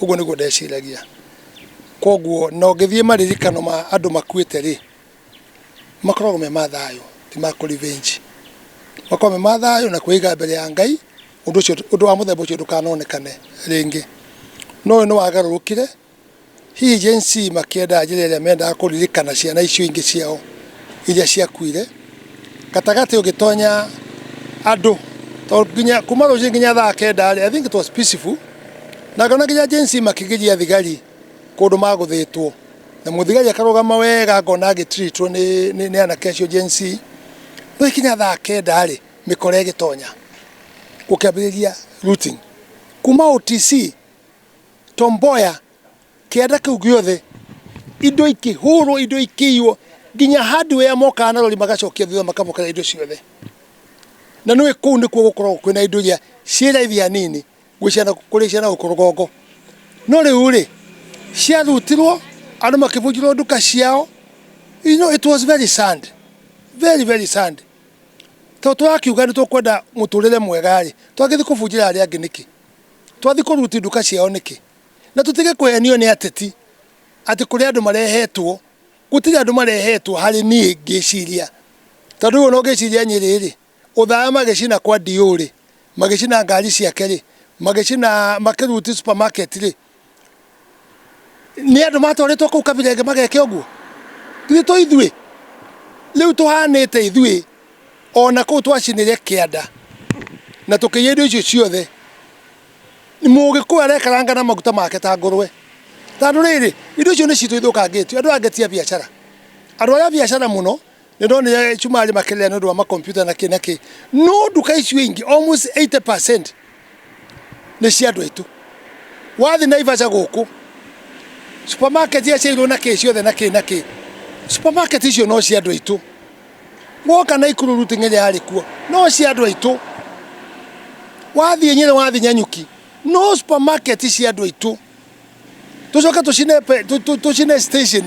ũguo nĩguo ndeciragia. Koguo na ũngĩthiĩ maririkano ma andũ makuĩte rĩ, makoragwo me ma thayũ ti ma kũ revenge. Makoragwo me ma thayũ na kwĩiga mbere ya Ngai, ũndũ ũcio ũndũ wa mũthemba ũcio ndũkanonekane rĩngĩ. No ũyũ nĩ wagarũrũkire, hihi Gen-Z makĩenda njĩra ĩrĩa mendaga kũririkana ciana icio ingĩ ciao iria ciakuire. Gatagatĩ ũgĩtonya andũ tondũ nginya kuma rũcinĩ nginya thaa kenda rĩ, I think it was peaceful na ngona nginya Gen Z makĩgiria thigari kũndũ magũthĩtwo na mũthigari akarũgama wega ngona agĩ treat wo nĩ nĩ nĩ anake acio Gen Z. Rĩu gũgĩkinya thaa kenda rĩ, mĩkora ĩgĩtonya gũkĩambĩrĩria looting. Kuma OTC, Tom Mboya. Kĩanda kĩu gĩothe, indo ikĩhũrwo, indo ikĩiywo, nginya hardware mokaga na rori magacokia thutha makamũkĩra indo ciothe. Na nĩ kũu nĩkuo gũkoragwo kwĩna indo iria ciĩ raithi hanini gwĩ ciana, kũrĩ ciana gũkũ rũgongo. No rĩu-rĩ, ciarutirwo, andũ makĩbunjĩrwo nduka ciao, you know it was very sad, very very sad. Tondũ tũrakiuga nĩ tũkwenda mũtũrĩre mwega-rĩ, twagĩthiĩ kũbunjĩra arĩa angĩ nĩkĩ? Twathiĩ kũ loot nduka ciao nĩkĩ? Na tũtige kũhenio nĩ ateti atĩ kũrĩ andũ marehetwo. Gũtirĩ andũ marehetwo harĩ niĩ ngĩciria. Tondũ rĩu ona ũngĩciria Nyĩrĩ-rĩ, ũthaya magĩcina kwa DO-rĩ, magĩcina ngari ciake-rĩ, magĩcina makĩruti supermarket-rĩ, nĩ andũ matwarĩtwo kũu Kabirenga mageke ũguo? Githĩ to ithuĩ? Rĩu tũhanĩte ithuĩ ona kũu twacinire kĩanda na tũkĩiya indo icio ciothe. Mũgĩkũyũ arekaranga na maguta make ta ngũrũwe. Tondũ rĩrĩ, indo icio nĩ citũ ithũkangĩtio. Andũ aya angĩ ti a biacara. Andũ arĩa a biacara mũno, nĩ ndona ũrĩa cumarĩ makĩrĩra nĩ ũndũ wa makompiuta na kĩ na kĩ. No nduka icio ingĩ, almost 80% nĩ cia andũ aitũ. Wathiĩ Naivasha gũkũ, supermarket iria ciairwo na kĩ ciothe na kĩ na kĩ, supermarket icio no cia andũ aitũ. woka na ikuru ruti ng'enya yari kuo no cia andu aitu wathie nyire wathi nyanyuki no supermarket cia andu aitu tucoke tucine pe- tu- tu- tucine station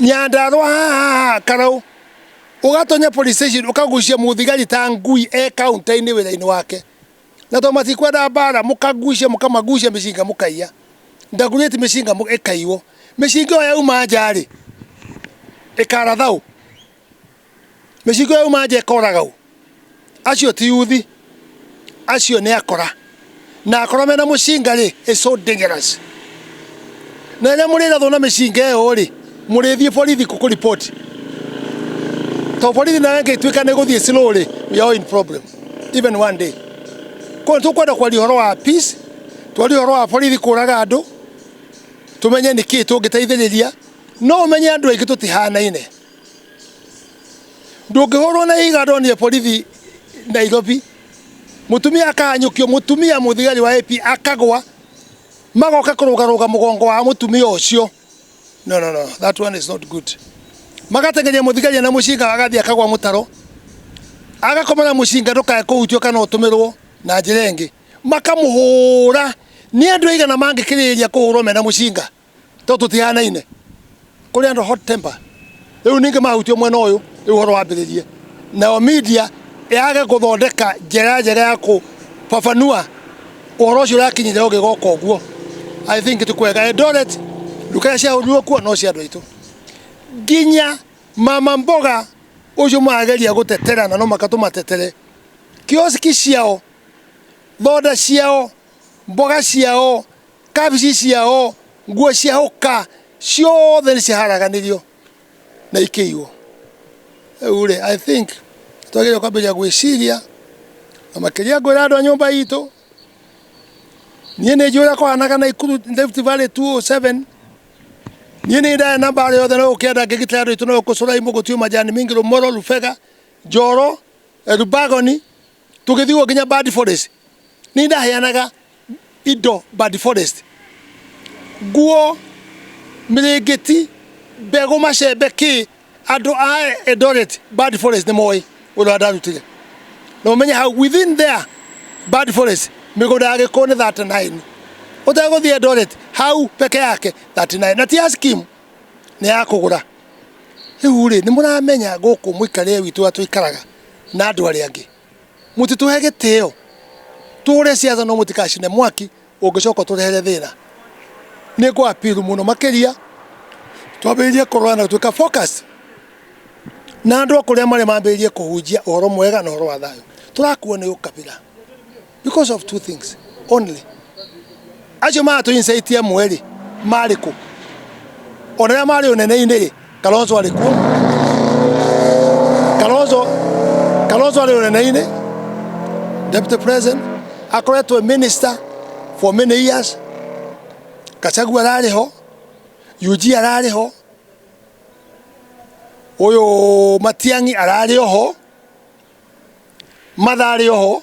nyandarwa haha karau ugatonya police station ukagucia muthigari ta ngui e kaunta-ini wira-ini wake na tondũ matikwenda mbara mũkagucia mũkamagucia mĩcinga mũkaiya ndagurĩti mĩcinga mũ- ĩkaiywo mĩcinga ĩyo yauma nja rĩ ĩkaratha ũ mĩcinga ĩyo yauma nja ĩkoraga ũ acio ti yuthi acio nĩ akora na akora mena mũcinga rĩ is so dangerous na rĩrĩa mũrĩrathwo na mĩcinga ĩyo rĩ mũrĩthiĩ borithi kũkũ ripoti to borithi nayo ĩngĩtuĩka nĩ gũthiĩ slow rĩ we are all in problem even one day koguo nĩ tũkwenda kwaria ũhoro wa peace twarie ũhoro wa borithi kũraga andũ tũmenye nĩ kĩĩ tũngĩteithĩrĩria no ũmenye andũ aingĩ tũtihanaine ndũngĩhũrwo na iga ndonire borithi nairobi mũtumia akahanyũkio mũtumia mũthigari wa AP akagwa magoka kũrũgarũga mũgongo wa mũtumia ũcio No, no, no. That one is not good. Magatengeria mũthigari na mũcinga agathiĩ akagwa mũtaro. Agakoma na mũcinga ndũkae kũhutio kana ũtũmĩrwo na njĩra ĩngĩ. Makamũhũra. Nĩ andũ aigana mangĩkĩrĩrĩria kũhũrwo mena mũcinga? Tondũ tũtihanaine. Kũrĩ andũ hot temper. rĩu ningĩ mahutio mwena ũyũ rĩu ũhoro wambĩrĩrie nayo media yage gũthondeka njĩra njega ya kũbabanua ũhoro ũcio ũrakinyire ũgĩgoka ũguo i think ti kwega Eldoret nduka iria ciahũrirwo kuo no cia andũ aitũ nginya mama mboga ũcio marageria gũtetera na no maka tũmatetere kioski ciao thonda ciao mboga ciao kabici ciao nguo cia ũka ciothe nĩ ciharaganirio na ikĩiywo rĩu rĩ i think twagĩrĩirwo kwambĩrĩria gwĩciria na makĩria ngwĩra andũ a nyũmba itũ niĩ nĩ njũĩ ũrĩa kwahanaga na ikuru Rift Valley 207 niĩ nĩ ndaya na mbaara yothe no ũkĩenda ngĩgitĩra andũ aitũ no ũkũcũrai mũgũtio majani mingi rũmoro rubega njoro elubagoni tũgĩthiwo nginya bad forest nĩ ndaheanaga indo bad forest nguo mĩrĩngĩti mbegũ macembe kĩ andũ a Eldoret bad forest nĩ moĩ ũrĩa ndarutire na ũmenye hau within there bad forest mĩgũnda ya gĩkũyũ nĩ 39 ũtegũthiĩ Eldoret hau peke yake 39 na ti ya scheme nĩ ya kũgũra Rĩu rĩ, nĩ mũramenya gũkũ mũikarĩre witũ ũrĩa tũikaraga na andũ arĩa angĩ, mũtitũhe gĩtĩo, tũhũre ciaca no mũtikacine mwaki ũngĩcoka ũtũrehere thĩna. Nĩ ngũ appeal mũno makĩria twambĩrĩrie kũrora na gũtuĩka focus na andũ o kũrĩa marĩ mambĩrĩrie kũhunjia ũhoro mwega na ũhoro wa thayũ. Tũrakuo nĩ ũkabira. because of two things only acio matũincaitĩe mwerĩ marĩ kũ ona rĩa marĩ ũnene-inĩ rĩ kalonzo arĩ kuo kalonzo kalonzo arĩ ũnene-inĩ deputy president akoretwo minister for many years kachagua ararĩ ho ug ararĩ ho ũyũ matiang'i ararĩ oho matha arĩ oho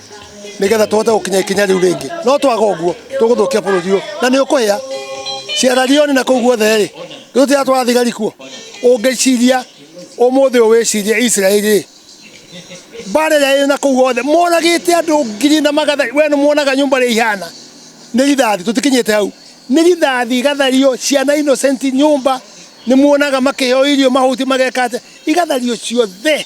nigetha tuhote gukinya ikinya riu ringi no twaga uguo tuguthukia bururi uyu na ni ukuhia ciararioni na kuu guothe ri ndutira twara thigari kuo ungiciria umuthi uyu wicirie Israeli ri mbara ĩrĩa ĩrĩ na kũu guothe moragĩte andũ ngiri na magatha we nĩ muonaga nyũmba rĩa ihana nĩ rithathi tũtikinyĩte hau nĩ rithathi igathario ciana innocent nyũmba nĩ muonaga makĩheo irio mahuti mageka atĩa igathario ciothe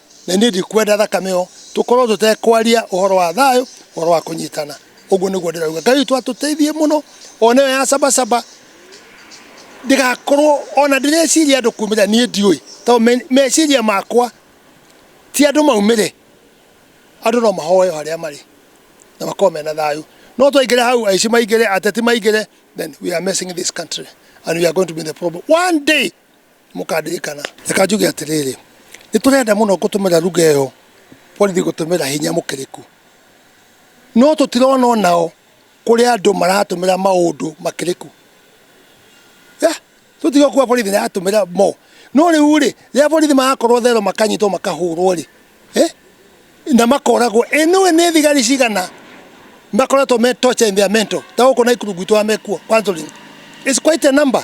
na niĩ ndikwenda thakame ĩyo tũkorwo tũtekwaria ũhoro wa thayũ ũhoro wa kũnyitana ũguo nĩguo ndĩrauga ngai witũ atũteithie mũno ona ĩyo ya cabacaba ndigakorwo ona ndĩreciria andũ kumĩra niĩ ndiũĩ tondũ me- meciria makwa ti andũ maumĩre andũ no mahoyo harĩa marĩ na makorwo mena thayũ no twaingĩre hau aici maingĩre ateti maingĩre then we are messing this country and we are going to be in the problem one day mũkandirikana reka njuge atĩrĩrĩ nĩ tũrenda mũno gũtũmĩra ruga ĩyo borithi gũtũmĩra hinya mũkĩrĩku no tũtirona onao kũrĩa andũ maratũmĩra maũndũ makĩrĩku Eh, tũtiga kuga borithi nĩ aratũmĩra mo no rĩu rĩ rĩrĩa borithi marakorwo thero makanyitwo makahũrwo rĩ eh, na makoragwo ĩ nĩ ũĩ nĩ thigari cigana makoretwo me torture in their mental ta gũkũ na ikuru gwitũ amekuo counseling is quite a number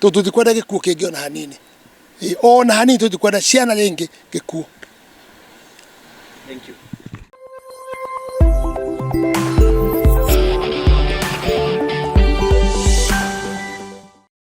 tondũ tũtikwenda gĩkuũ kĩngĩ ona hanini Ĩ, ona hanini tũtikwenda ciana rĩngĩ gĩkuũ Thank you.